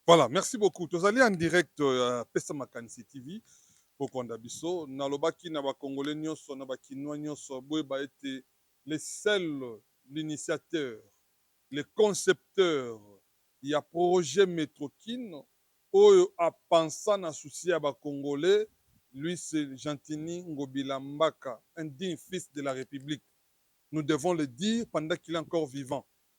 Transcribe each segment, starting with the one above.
Voilà merci beaucoup tozali en direct ya pesa makanisi TV bokolanda biso nalobaki na ba congolais nionso na ba kinois nionso boyeba ete le seul l'initiateur le concepteur ya projet metro kin oyo a pensa na souci ya ba congolais lui c'est Gentiny Ngobila Mbaka un digne fils de la Republique nous devons le dire pendant qu'il est encore vivant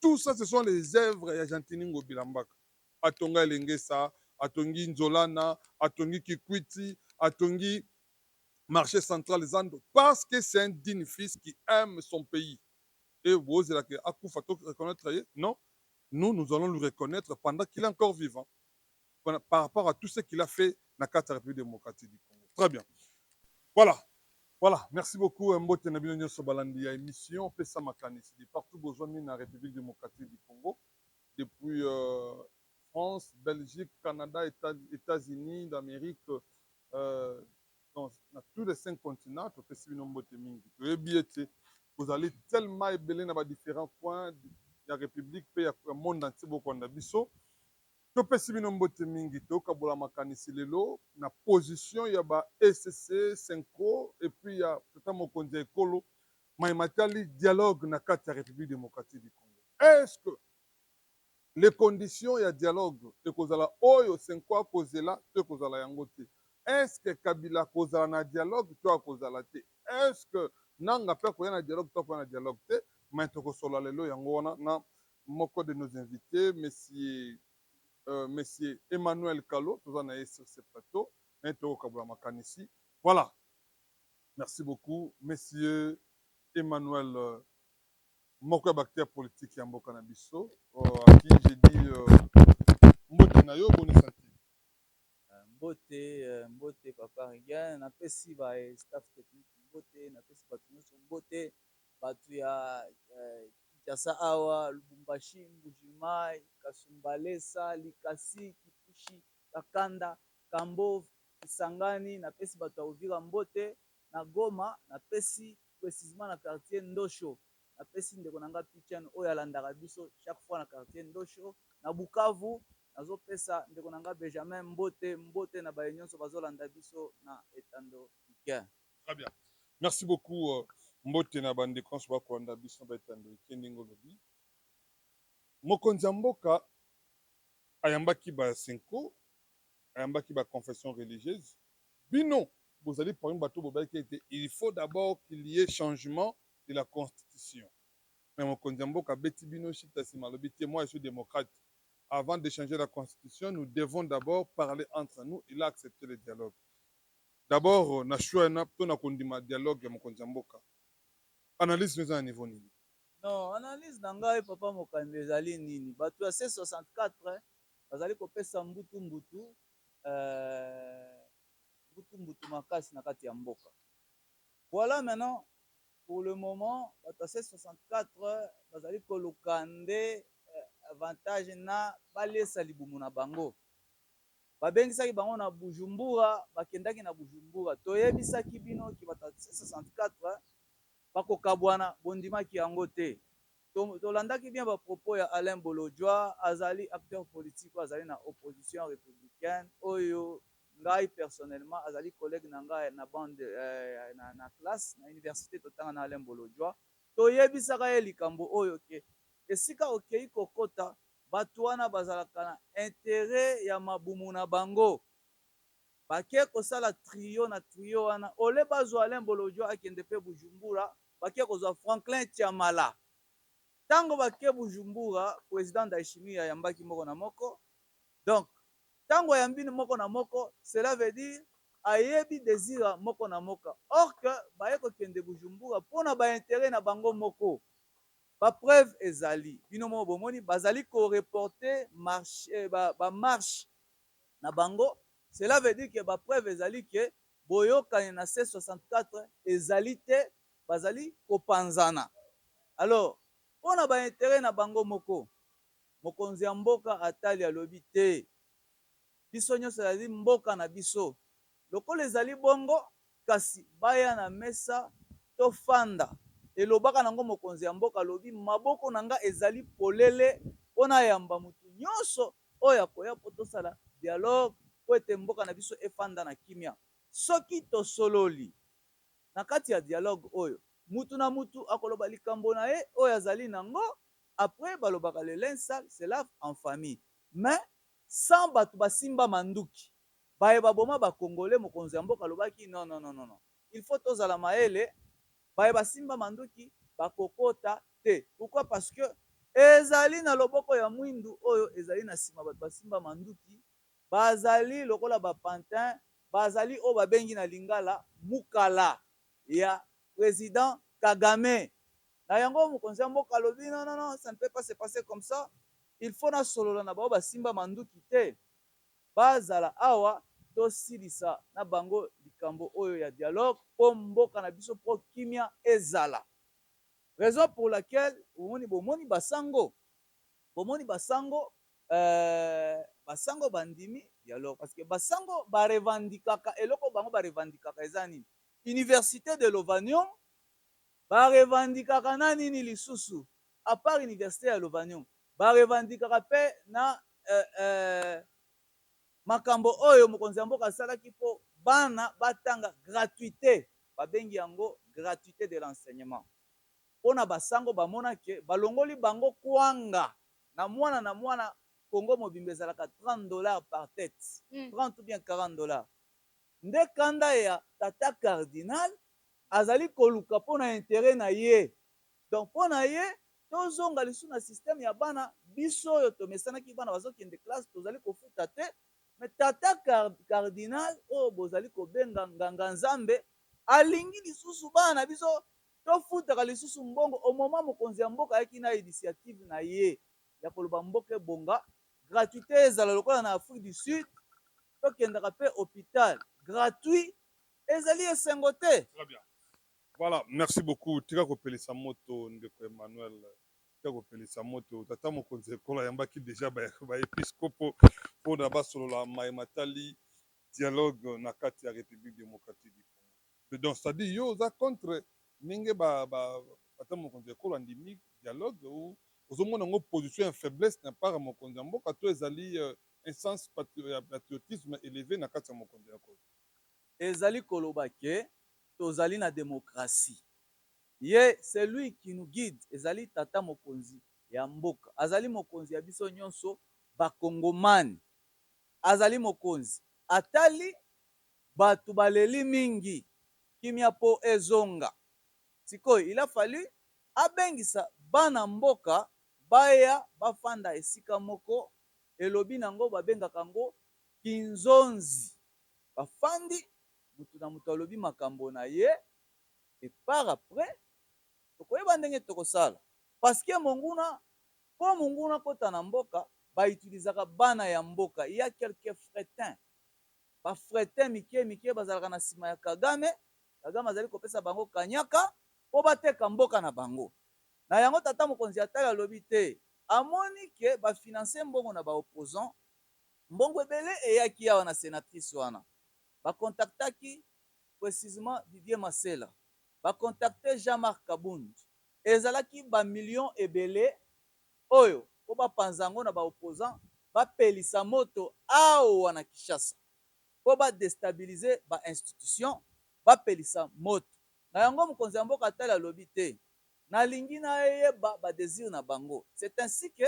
Tout ça ce sont les oeuvres ya Gentiny Ngobila Mbaka. Atonga Elengesa, atongi Nzolana, atongi Kikwiti, atongi marche central zando parce que c'est un digne fils qui aime son pays. Et bozela que akufa to reconnaitre ye? Non, nous, nous allons lui reconnaitre pendant qu'il est encore vivant. par rapport à tout ce qu'il a fait na kati ya Republique Democratique du Congo. Très bien. Voilà. Voilà, merci beaucoup. Euh, mbote na bino nyonso balandi ya émission pesa makanisi de partout bozwami na République démocratique du Congo depuis euh, France, Belgique, Canada, États-Unis d'Amérique euh, dans, na tous les cinq continents topesi bino mbote mingi toyebi ete bozali tellement ebele na ba différents coins ya république mpe ya monde entier bokolanda biso Topesi bino mbote mingi, tokabola makanisi lelo na position ya ba ecc, cenco et puis ya tata mokonzi ya ekolo maye matali dialogue na kati ya Republique democratique du Congo. Est ce que les conditions ya dialogue ekozala oyo cenco akozela to ekozala yango te? Est ce que Kabila akozala na dialogue to akozala te? Est ce que Nanga pe akoya na dialogue to akoya na dialogue te? Mais tokosolola lelo yango wana na Moko de nos invites monsieur monsieur Emmanuel Kalo toza na ye sur ce plateau mais toko kabola makanisi voilà merci beaucoup monsieur Emmanuel moko ya ba acteurs politiques ya mboka na biso à qui je dis mbote na yo boni santé. Mbote mbote papa Regain napesi ba staff technique mbote napesi batu nionso mbote. batu ya kinshasa awa lubumbashi mbuji mayi kasumbalesa likasi kipushi kakanda kambove kisangani na pesi batu ya uvira mbote na goma na pesi precisement na quartier ndosho na pesi ndeko na nga pichen oyo alandaka biso chaque fois na quartier ndosho na bukavu nazo pesa ndeko na nga bejamin mbote mbote na baye nionso bazo landa biso na etando pichen. Très bien. Merci beaucoup mbote na ba ndeko nionso ba kolanda biso na ba etando ike ndenge olobi mokonzi ya mboka ayambaki ba senko ayambaki ba confession religieuse bino bozali parmi bato bobaki ete il faut d'abord qu'il y ait changement de la constitution mais mokonzi ya mboka abeti bino shita sima alobi te moi je suis democrate avant de changer la constitution nous devons d'abord parler entre nous il a accepte le dialogue D'abord na choix ena to na kondima dialogue ya mokonzi ya mboka analyse no eza na niveau nini? Non analyse na ngai papa mokambi ezali nini batu ya C64 bazali kopesa mbutu mbutu eh mbutu mbutu makasi na kati ya mboka voila maintenant pour le moment batu ya C64 bazali koluka nde avantage na baliesa libumu na bango. Babengisaki bango na Bujumbura, bakendaki na Bujumbura. Toyebisaki bino ke bato ya C64 bakokabwana, bondimaki yango te. Tolandaki bien ba propos ya Alain Bolodjwa, azali acteur politique oyo azali na opposition republicaine, oyo ngai personnellement azali collegue na ngai na bande, na classe, na universite totanga na Alain Bolodjwa. Toyebisaka ye likambo oyo ke esika okeyi kokota, batu wana bazalaka na interet ya mabumu na bango bake kosala trio na trio wana au lieu bazua Alain bolodjwa akende pe bujumbura bake kozua Franklin tshiamala tango bake bujumbura president ndaishimie ayambaki moko na moko donc tango ayambi moko na moko cela veut dire ayebi desir ya moko na moka or que baye kokende bujumbura pona ba interet na bango moko. Ba preuves ezali, bino moko bomoni bazali ko reporter marche, ba marches na bango, cela veut dire que ba preuves ezali que boyokani na C64 ezali te, bazali kopanzana. Alors, mpo na ba interets na bango moko, mokonzi ya mboka atali alobi te, biso nionso ezali mboka na biso. Lokola ezali bongo, Kasi baya na mesa tofanda, elobaka na yango mokonzi ya mboka. Alobi, Maboko na ngai ezali polele mpo nayamba moto nyonso oyo akoya mpo tosala dialoge, mpo ete mboka na biso efanda na kimia. Soki tosololi na kati ya dialoge oyo, moto na moto akoloba likambo na ye oyo azali na yango, après balobaka le linge sale se lave en famille mais sans bato basimba manduki. Baye ba boma ba congolais mokonzi ya mboka alobaki non non non non il faut tozala mayele baye ba simba manduki ba kokota te pourquoi parce que ezali na loboko ya muindu oyo ezali na sima batu ba simba manduki ba zali lokola ba pantin ba zali oyo ba bengi na lingala mukala ya president kagame na yango mokonzi ya mboka alobi non non non ça ne peut pas se passer comme ça il faut na solola na baoyo ba simba manduki te. Bazala awa tosilisa na bango likambo oyo ya dialogue po mboka na biso po kimia ezala. Raison pour laquelle omoni bomoni ba sango bomoni ba sango euh ba sango ba ndimi dialogue parce que ba sango ba revendicaka eloko bango ba revendicaka eza nini? Universite de Lovanium ba revendicaka na nini lisusu? A part universite ya Lovanium, ba revendicaka pe na eh eh makambo oyo mokonzi ya mboka asalaki po bana batanga gratuite, babengi yango gratuite de l'enseignement. Po na ba sango bamona que balongoli bango kwanga na mwana na mwana, Congo mobimba ezalaka 30 dollars par tete, 30 ou bien 40 dollars. Nde kanda ya tata cardinal azali koluka po na interet na ye Donc pona ye tozonga lisusu na système ya bana biso oyo tomesanaki bana bazo kende classe tozali kofuta te mais tata cardinal oyo bozali kobenga nganga nzambe alingi lisusu bana na biso tofutaka lisusu mbongo au moment mokonzi ya mboka ayaki na initiative na ye ya koloba mboka ebonga gratuite ezala lokola na Afrique du Sud tokendaka pe hopital gratuit ezali esengo te. Voilà merci beaucoup tika kopelisa moto ndeko Emmanuel tika kopelisa moto tata mokonzi ya ekolo ayambaki dejà ba episkopo pona basolola maye matali dialogue na kati ya Republique democratique du Congo mais donc c'est à dire yo oza contre ndenge ba ba tata mokonzi ya ekolo andimi dialogue ou ozomona yango position ya faiblesse na part ya mokonzi ya mboka to ezali un sens ya patriotisme eleve na kati ya mokonzi ya ekolo? Ezali koloba que tozali na democratie ye celui qui nous guide ezali tata mokonzi ya mboka azali mokonzi ya biso nionso ba kongomani azali mokonzi atali batu baleli mingi kimia po ezonga sikoyo il a fallu abengisa bana mboka baya bafanda esika moko elobi nango babengaka yango kinzonzi bafandi Mutu na mutu alobi makambo na ye et par après toko yeba ndenge toko sala parce que monguna po monguna akota na mboka ba utilisaka bana ya mboka il ya quelques fretins ba fretins mikie mikie bazalaka na sima ya kagame kagame azali kopesa bango kanyaka po ba teka mboka na bango na yango tata mokonzi ya tala alobi te amoni que ba financer mbongo na ba opposants mbongo ebele eyaki awa na senatrice wana. Ba contactaki precisement Didier Masela, ba contacter Jean Marc Kabund, ezalaki ba millions ebele oyo po ba panza yango na ba opposants, ba pelisa moto awa na Kinshasa po ba destabiliser ba institutions, ba pelisa moto. Na yango mokonzi ya mboka Tala alobi te, na lingi na yeba ba desir na bango. C'est ainsi que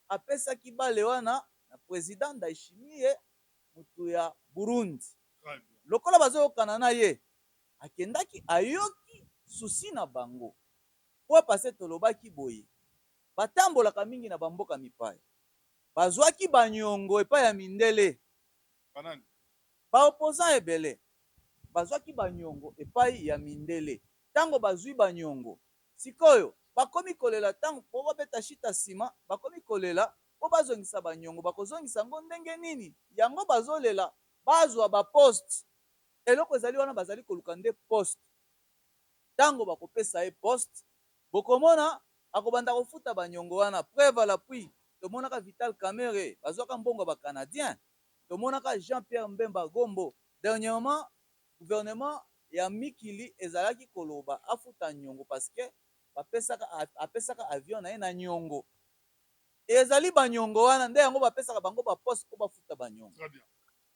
apesaki balle wana na president Ndayishimiye. Mutu ya Burundi lokola bazoyokana na ye akendaki ayoki souci na bango fois passe tolobaki boye batambolaka mingi na ba mboka mipaya bazuaki ba niongo epai ya mindele ba opposants ebele bazuaki ba niongo epai ya mindele tango bazui ba niongo Sikoyo bakomi kolela tango po babeta shita sima bakomi kolela po bazongisa ba niongo bakozongisa ngo ndenge nini yango bazolela bazua ba poste eloko ezali wana bazali koluka nde poste tango bakopesa ye poste bokomona akobanda kofuta ba niongo wana preuve a la puis tomonaka vital kamerhe bazuaka mbongo ya ba canadien tomonaka jean pierre mbemba gombo dernièrement Gouvernement ya mikili ezalaki koloba afuta niongo parce que bapesaka apesaka avion naye na niongo et ezali ba niongo wana nde yango bapesaka bango ba poste po bafuta ba niongo.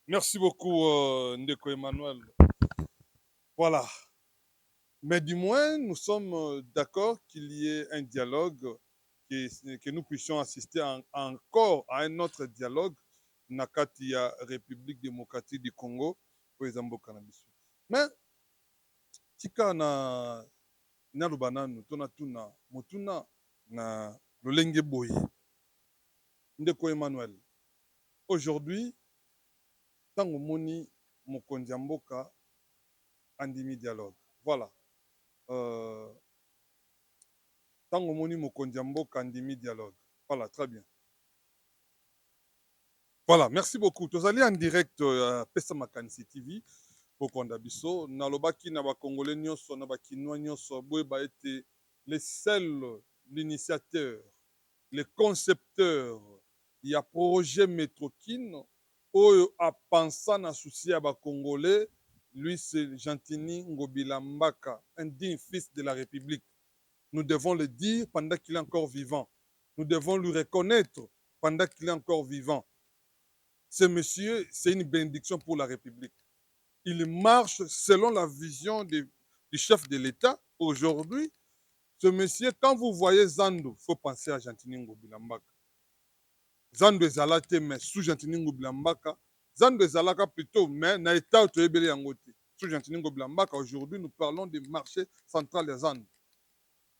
Merci beaucoup ndeko Emmanuel voilà mais du moins nous sommes d'accord qu'il y ait un dialogue que que nous puissions assister encore à un autre dialogue na kati ya Republique democratique du Congo oyo eza mboka na biso mais tika na naloba nanu to natuna motuna na lolenge boye ndeko Emmanuel aujourd'hui tango omoni mokonzi ya mboka andimi dialogue voila euh tango omoni mokonzi ya mboka andimi dialogue voila très bien. Voilà, merci beaucoup. Tozali en direct ya euh, Pesa Makanisi TV. Bokonda biso, nalobaki na ba Congolais nyonso, na ba Kinois nyonso, boyeba ete le seul, l'initiateur, le concepteur ya projet Metrokin oyo apensa na souci ya ba Congolais, lui c'est Gentini Ngobila Mbaka, un digne fils de la République. Nous devons le dire pendant qu'il est encore vivant. Nous devons lui reconnaître pendant qu'il est encore vivant ce monsieur c'est une benediction pour la republique il marche selon la vision de du chef de l'etat aujourd'hui ce monsieur quand vous voyez zandu faut penser à gentini ngobila mbaka zandu ezala te mais sous gentini ngobila mbaka zandu ezalaka plutot mais na etat oyo toyebeli yango te sous gentini ngobila mbaka aujourd'hui nous parlons de marche central ya zandu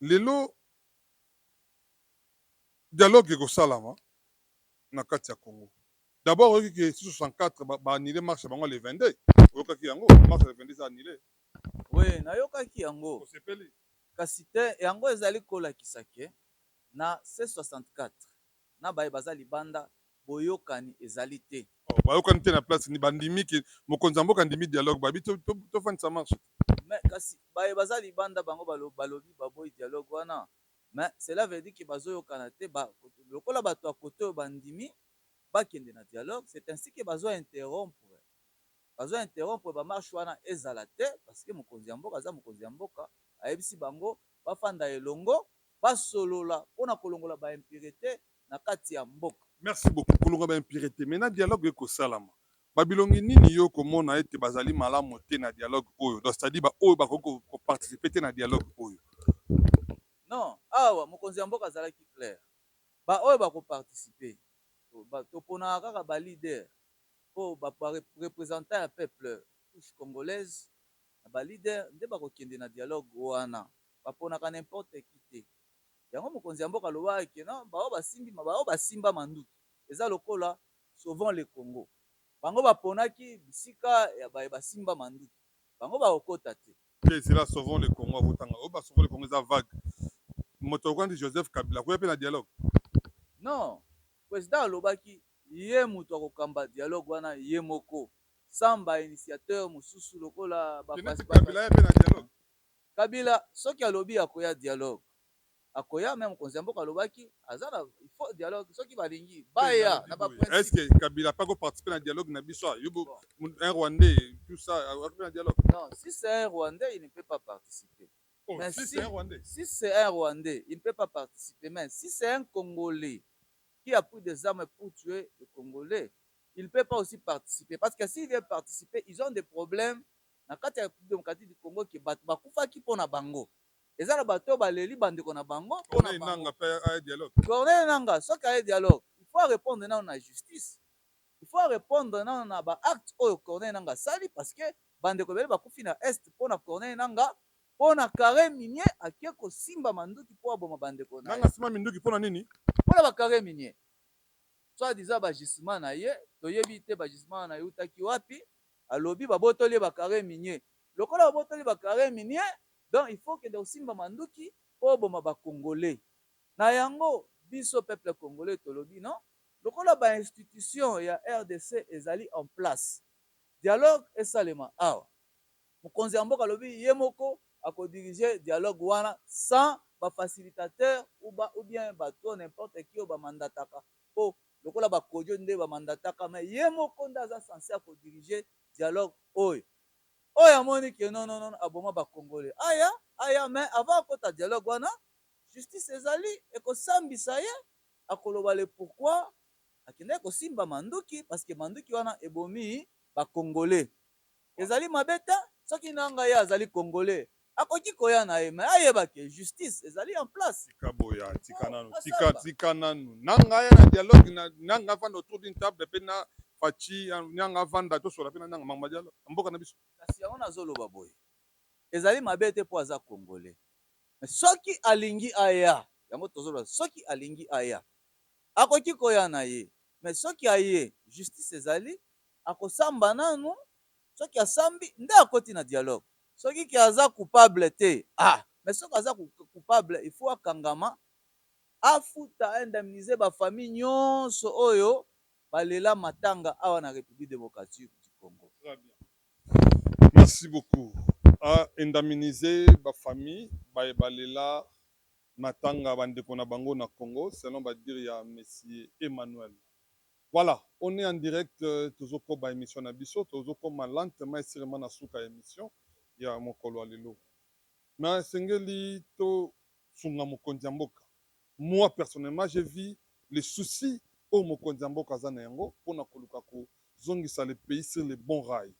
Lelo dialogue ekosalama na kati ya Congo. D'abord oyoki que si 64 ba ba annuler marche na bango ya le 22? Oyokaki yango? Marche ya le 22 eza annuler? Oui nayokaki yango. Osepeli? Kasi te, yango ezali kolakisa que na ce 64. na baye baza libanda boyokani ezali te. Oh bayokani te na place nini? Bandimi que mokonzi ya mboka andimi dialogue bayebi tofandisa marche te. Mais kasi baye baza libanda bango balobi baboyi dialogue wana mais cela veut dire que bazoyokana te ba lokola batu ya cote oyo bandimi bakende na dialogue c'est ainsi que bazo interrompre bazo interrompre ba marche wana ezala te parce que mokonzi ya mboka aza mokonzi ya mboka ayebisi bango bafanda elongo basolola pona kolongola ba impurete na kati ya mboka. Merci beaucoup kolongola ba impurete mais na dialogue eko salama ba bilongi nini yo oko mona ete bazali malamu te na dialogue oyo donc c'est à dire ba oyo bakoki ko participer te na dialogue oyo? Non awa mokonzi ya mboka azalaki clair ba oyo bako participer toponaka kaka ba leader po ba representant ya peuple couche congolaise na ba leader nde bako kende na dialogue wana. ba ponaka n'importe qui te yango mokonzi ya mboka alobaka que non ba oyo ba simbi ba oyo ba simba manduki eza lokola sauvons le Congo bango ba ponaki bisika ya baye ba simba manduki bango ba ko kota te. Te zela sauvons le Congo avo tanga oyo ba sauvons le Congo eza vague moto lokola neti Joseph Kabila akoya pe na dialogue? Non president alobaki ye mutu ako kamba dialogue wana ye moko sans ba initiateur mosusu lokola ba Kabila aya pe na dialogue? Kabila soki alobi akoya dialogue akoya mais mokonzi ya mboka alobaki aza na il faut dialogue soki balingi baya na ba principe. Est ce que kabila pe ako participer na dialogue na biso a yo un rwandais tout ça akoki na dialogue? Non si c'est un rwandais il ne peut pas participer mais si c'est un rwandais si c'est un rwandais il ne peut pas participer mais si c'est un congolais qui a pris des armes pour tuer le congolais il ne peut pas aussi participer parce que s'il vient participer ils ont des problèmes na kati ya Republique Democratique du Congo que batu bakufaki mpo na bango. Eza na batu oyo baleli ba ndeko na bango mpo na bango. Corneille Nangaa soki aye dialogue il faut a repondre nanu na justice. Il faut a repondre nanu na ba actes oyo Corneille Nangaa asali parce que ba ndeko ebele bakufi na Est mpo na Corneille Nangaa mpo na carre minier ake kosimba manduki mpo aboma ba ndeko naye. Nangaa asimba minduki mpo na nini? Mpo na ba carres miniers. Soit disant ba gisements na ye toyebi te ba gisements wana ewutaki wapi. alobi babotoli ye ba carre minier lokola babotoli ba carre minier donc il faut okende kosimba manduki po oboma ba congolais na yango biso peuple congolais tolobi non lokola ba institutions ya rdc ezali en place dialogue esalema awa mokonzi ya mboka alobi ye moko ako diriger dialogue wana sans ba facilitateurs ou bien batu oyo n'importe qui oyo ba mandataka po Lokola ba Kodjo nde ba mandataka mais ye moko nde aza sense ya ko diriger dialogue oyo. Oyo amoni que non non non aboma ba congolais aya aya mais avant akota dialogue wana justice ezali eko sambisa ye akoloba le pourquoi akendaki kosimba manduki parce que manduki wana ebomi ba congolais. Ezali mabe te soki nanga ye azali congolais akoki koya naye mais ayeba que justice ezali en place. Tika boya tika nanu tika tika nanu nanga aya na dialogue na nanga avanda autour d'une table pe na Fatshi nanga avanda tosolola pe na nanga makambo ya dialogue na mboka na biso. Kasi yango nazo loba boye ezali mabe te po aza congolais mais soki alingi aya yango tozo loba soki alingi aya akoki koya naye mais soki aye justice ezali Akosamba nanu soki asambi nde akoti na dialogue soki ke aza coupable te ah mais soki aza coupable il faut akangama afuta a indemniser ba famille nionso oyo ba lela matanga awa na Republique Democratique du Congo. Très bien merci beaucoup a indemniser ba famille baye ba lela matanga ba ndeko na bango na Congo selon ba dire ya monsieur Emmanuel. Voilà on est en direct tozo koba emission na biso tozo koma lentement et surement na suka ya emission ya mokolo ya lelo mais esengeli to sunga mokonzi ya mboka moi personnellement j'ai vu le souci oyo mokonzi ya mboka aza na yango pona koluka ko zongisa le pays sur le bon rail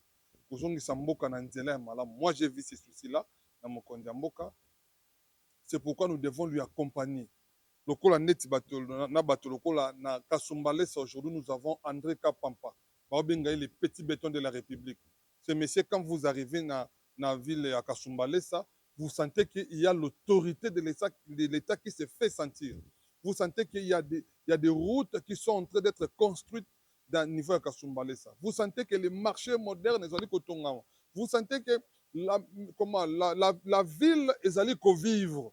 ko zongisa mboka na nzela ya malamu moi j'ai vu ce souci là na mokonzi ya mboka c'est pourquoi nous devons lui accompagner Lokola neti bato na bato lokola na kasumbalesa aujourd'hui nous avons Andre kapampa bao benga ye le petit beton de la republique ce monsieur quand vous arrivez na na ville ya kasumbalesa vous sentez que il ya l'autorite de l'etat de l'etat qui se fait sentir vous sentez que il ya des il ya des routes qui sont entrain d'etre construite dans niveau ya kasumbalesa vous sentez que le marche moderne ezali kotongama vous sentez que la comment la la la ville ezali ko vivre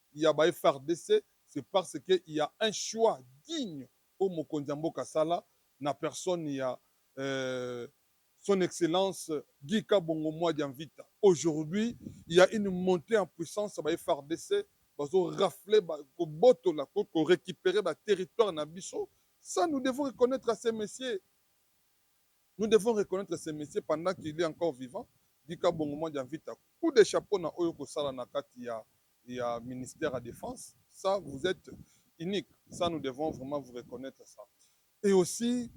ya ba FARDC c'est parce que il ya un choix digne oyo mokonzi ya mboka asala na personne ya son excellence Guy Kabongo Mwadia Mvita. Aujourd'hui il ya une montee en puissance ya ba FARDC bazo rafler ba ko botola ko ko recuperer ba territoires na biso ça nous devons reconnaitre à ce monsieur nous devons reconnaitre ce monsieur pendant qu'il est encore vivant Guy Kabongo Mwadia Mvita coup de chapeau na oyo oko sala na kati ya ya ministère ya defense ça vous etes unique ça nous devons vraiment vous reconnaitre ça et aussi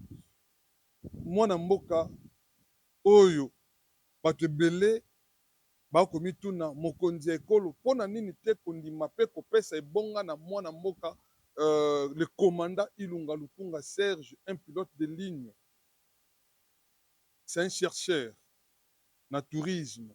mwana mboka oyo batu ebele ba komituna mokonzi ya ekolo pona nini te kondima pe kopesa ebonga na mwana mboka euh, le commandant Ilunga Lukunga Serge un pilote de ligne c'est un chercheur na tourisme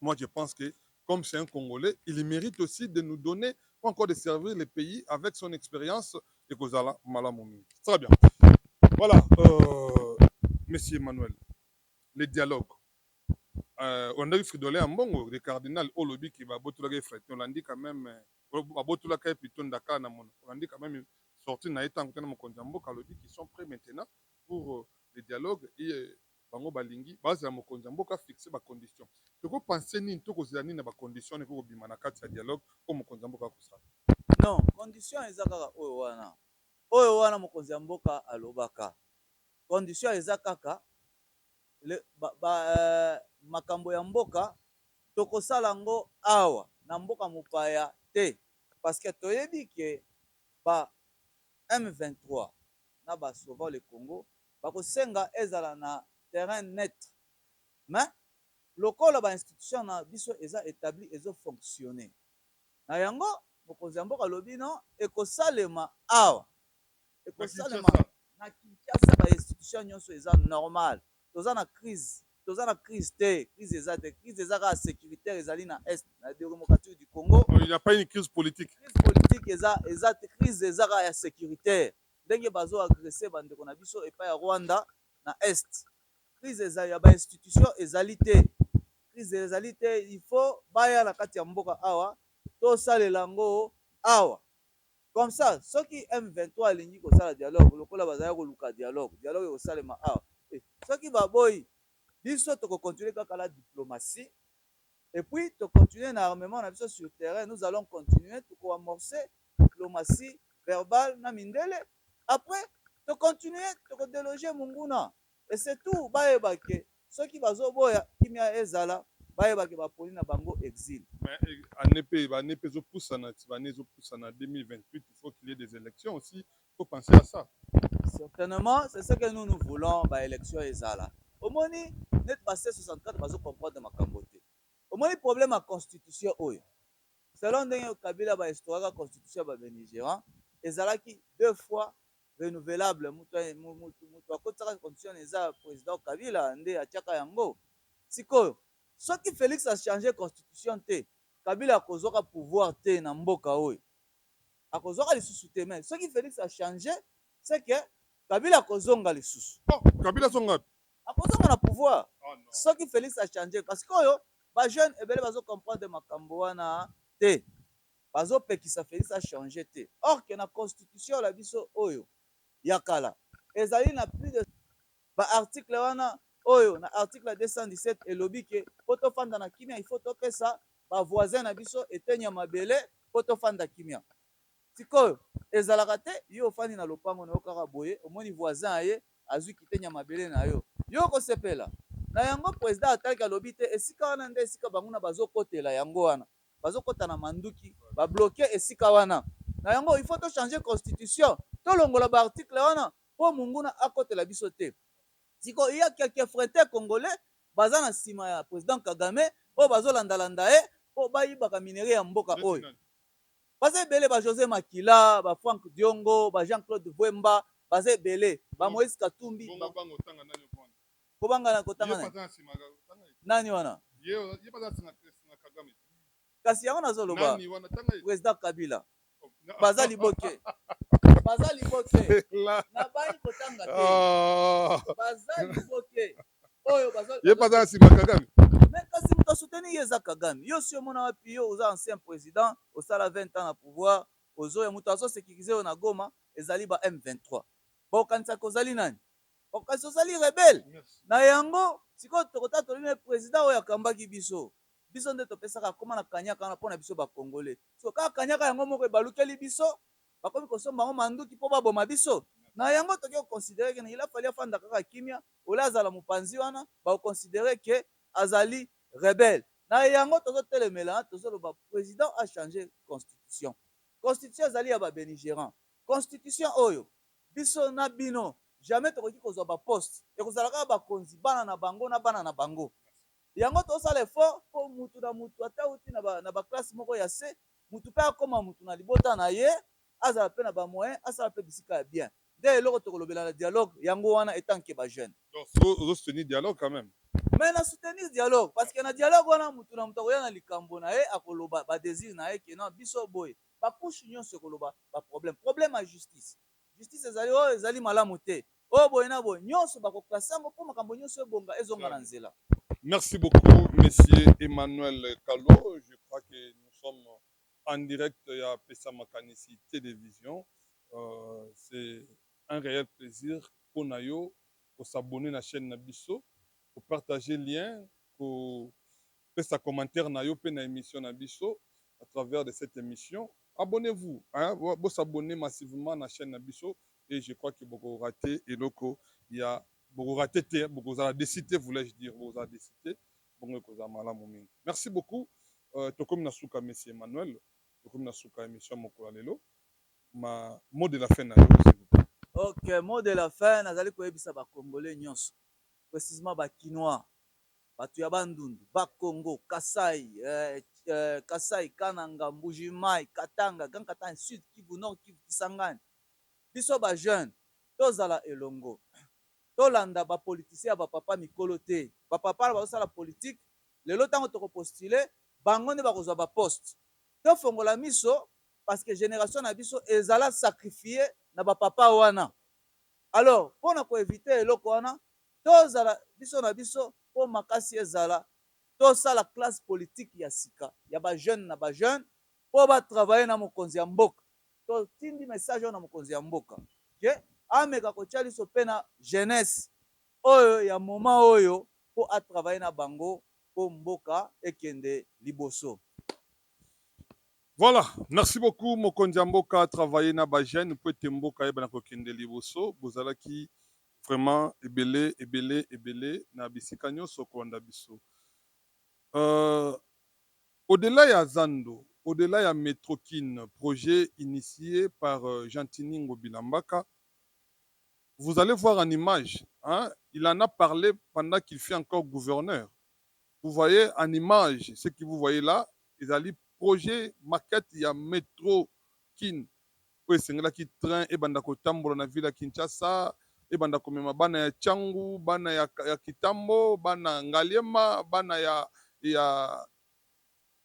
Moi je pense que comme c'est un congolais il merite aussi de nous donner ou encore de servir le pays avec son experience ekozala malamu mingi très bien voilà euh, monsieur Emmanuel le dialogue euh, olandaki fridole ya mbongo le cardinal olobi ke babotolaka ye fridole olandi quand même euh, babotolaka ye plutôt ndaka na mono olandi quand même sorti na ye ntango tena mokonzi ya mboka alobi qu'ils sont prêts maintenant pour euh, le dialogue et Bango balingi bazela mokonzi ya mboka a fixer ba conditions. Toko penser nini to kozela nini na ba conditions wana ekoki kobima na kati ya dialogue oyo mokonzi ya mboka akosala? Non, condition eza kaka oyo wana. Oyo wana mokonzi ya mboka alobaka. Condition eza kaka le ba ba makambo ya mboka tokosala yango awa na mboka mopaya te parce que toyebi que ba M23, na ba sauvons le Congo bakosenga ezala na terrain neutre mais lokola ba institutions na biso eza etabli ezo fonctionner na yango mokonzi ya mboka alobi non ekosalema awa ekosalema na Kinshasa ba institutions nionso eza normale. Toza na crise toza na crise te crise eza te crise eza kaka securitaire ezali na est na deremocrature du congo oh, il n'y a pas une crise politique crise politique eza eza te crise eza kaka ya securitaire ndenge bazo agresser bandeko na biso epai ya rwanda na est crise eza ya ba institution ezali te crise ezali te il faut baya na kati ya mboka awa tosalela yango awa Comme ça soki M23 alingi kosala dialogue lokola bazalaki koluka dialogue, dialogue ekosalema awa te. Soki baboyi, biso toko continuer kaka na diplomatie et puis to continuer na armement na biso sur terrain, nous allons continuer, toko amorcer diplomatie verbale na mindele, après to continuer, toko deloger monguna. Et c'est tout bayeba que soki bazo boya kimia ezala bayeba que ba poni na bango exil. Mais annee pe ba annee pe ezo pusana ti ba annee ezo pusana 2028 il faut qu'il y ait des elections aussi il faut penser à ça. Certainement c'est ce que nous nous voulons ba elections ezala omoni neti ba ce 64 bazo comprendre makambo te omoni problème ya constitution oyo selon ndenge kabila ba instauraka constitution ya ba benigerants ezalaki deux fois renouvelable mutu akotisaka constitution eza president kabila nde atiaka yango sikoyo soki Felix a change constitution te kabila akozuaka pouvoir te na mboka oyo akozuaka lisusu te mais soki Felix a change ce que kabila akozonga lisusu oh, kabila zonga akozonga na pouvoir oh, no. soki Felix a change parce que oyo ba jeune ebele bazo comprendre makambo wana te Bazo pekisa Felix a changer te or que na constitution la biso oyo ya kala ezali na plus de ba articles wana oyo na article 217 elobi que po to fanda na kimia il faut to pesa ba voisins na biso eteni ya mabele po to fanda kimia. Sikoyo ezalaka te yo ofandi na lopango nayo kaka boye omoni voisin aye azui kiteni ya mabele nayo yo oko sepela? Na yango president atalki alobi te esika wana nde esika banguna bazo kotela yango wana bazo kota na manduki ba bloque esika wana na yango il faut to changer constitution tolongola ba article wana po munguna akotela biso te sikoyo il ya que que fretin congolais baza na sima ya president kagame oyo bazo landa landa ye po bayibaka minerais ya mboka oyo baza ebele ba jose makila ba franck diongo ba jean claude vuemba baza ebele ba moise katumbi ba Kobanga na kotanga na nani wana? Kasi yango nazo loba president kabila baza liboke baza liboke na bayi kotanga te ah. baza liboke oyo baza ye baza na sima kagame mais kasi moto asuteni ye eza kagame yo si omona wapi yo oza ancien president osala 20 ans na pouvoir ozoya moto azo sécurise yo na goma ezali ba m23 bokanisaka ozali nani Kasi ozali rebelle. Na yango, sikoyo tokotatoli na ye president oyo akambaki biso. Biso nde topesaka akoma na kanyaka wana mpo na biso ba Congolais. Sikoyo kaka kanyaka yango moko ebalukeli biso, bakomi kosomba yango manduki mpo baboma biso? Na yango toke ko considerer que il a fallu afanda kaka kimia au lieu azala mopanzi wana bako considerer que azali rebelle. Na yango tozotelemela, tozoloba president a changer constitution. Constitution ezali ya ba beligerants. Constitution oyo, Biso na bino jamais tokoki kozua ba poste ekozala kaka bakonzi bana na bango na bana na bango yango tozosala effort po mutu na mutu ata awuti na ba classe moko ya se mutu pe akoma mutu na libota na ye azala pe na ba moyen asala pe bisika ya bien nde eloko tokolobela na dialogue yango wana etant que ba jeune. Donc yo ozo soutenir dialogue quand meme? Mais na soutenir dialogue parce que na dialogue wana mutu na mutu akoya na likambo na ye akoloba ba desir na ye que non biso boye ba couche nionso ekoloba ba problème problème ya justice justice ezali oh ezali malamu te oh boye na boye nionso bako classe yango po makambo nionso ebonga ezonga na nzela. Merci beaucoup monsieur Emmanuel Kalo je crois que nous sommes en direct ya pesa makanisi television c'est un reel plaisir po na yo ko s'abonner na chaine na biso ko partager lien ko Pesa commentaire na yo pe na emission na biso à travers de cette emission. Abonnez vous hein bo s'abonner massivement na chaine na biso et je crois que boko rate eloko ya boko rate te boko zala deçu te voulais je dire boko zala deçu te bongo eko zala malamu mingi merci beaucoup tokomi na suka Messi Emmanuel tokomi na suka emission mokolo lelo ma mot de la fin na yo Ok, mot de la fin, nazali koyebisa ba Congolais nyonso, precisement ba Kinois, Batu ya Bandundu, Bas-Congo, Kasaï, Kasaï, Kananga, Mbujimayi, Katanga, Grand Katanga, Sud Kivu, Nord Kivu, Kisangani, biso ba jeunes tozala elongo. Tolanda ba politiciens ya ba papa mikolo te. Ba papa wana bazosala politique, lelo tango toko postuler, bango nde bakozwa ba postes. Tofongola miso parce que generation na biso ezala sacrifier na ba papa wana. Alors, pona ko eviter eloko wana, Tozala biso na biso po makasi ezala, tosala classe politique ya sika ya ba jeunes na ba jeunes po ba travailler na mokonzi ya mboka. Totindi message oyo na mokonzi ya mboka que ameka kotia liso pe na jeunesse oyo ya moment oyo po a travailler na bango po mboka ekende liboso. Voilà, merci beaucoup mokonzi ya mboka a travailler na ba jeunes po ete mboka eyebana kokende liboso. Bozalaki Vraiment ebele ebele ebele na bisika nionso kolanda biso euh au delà ya zando au delà ya metro kin projet initie par gentiny ngobila mbaka vous allez voir en image hein il en a parle pendant qu'il fut encore gouverneur vous voyez en image ce que vous voyez là ezali projet maquette ya metro kin oyo esengelaki train ebanda kotambola na ville ya Kinshasa, ebanda komema bana ya Tshangu, bana ya, ya Kitambo, bana Ngaliema, bana ya, ya,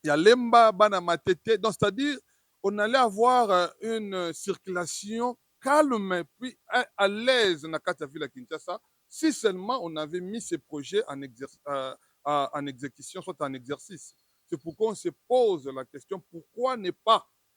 ya Lemba, bana ya Matete. Donc, c'est-à-dire, on allait avoir une circulation calme puis à l'aise na kati ya ville ya Kinshasa, si seulement on avait mis ce projet en exerce, euh, en execution, soit en exercice. C'est pourquoi on se pose la question, pourquoi ne pas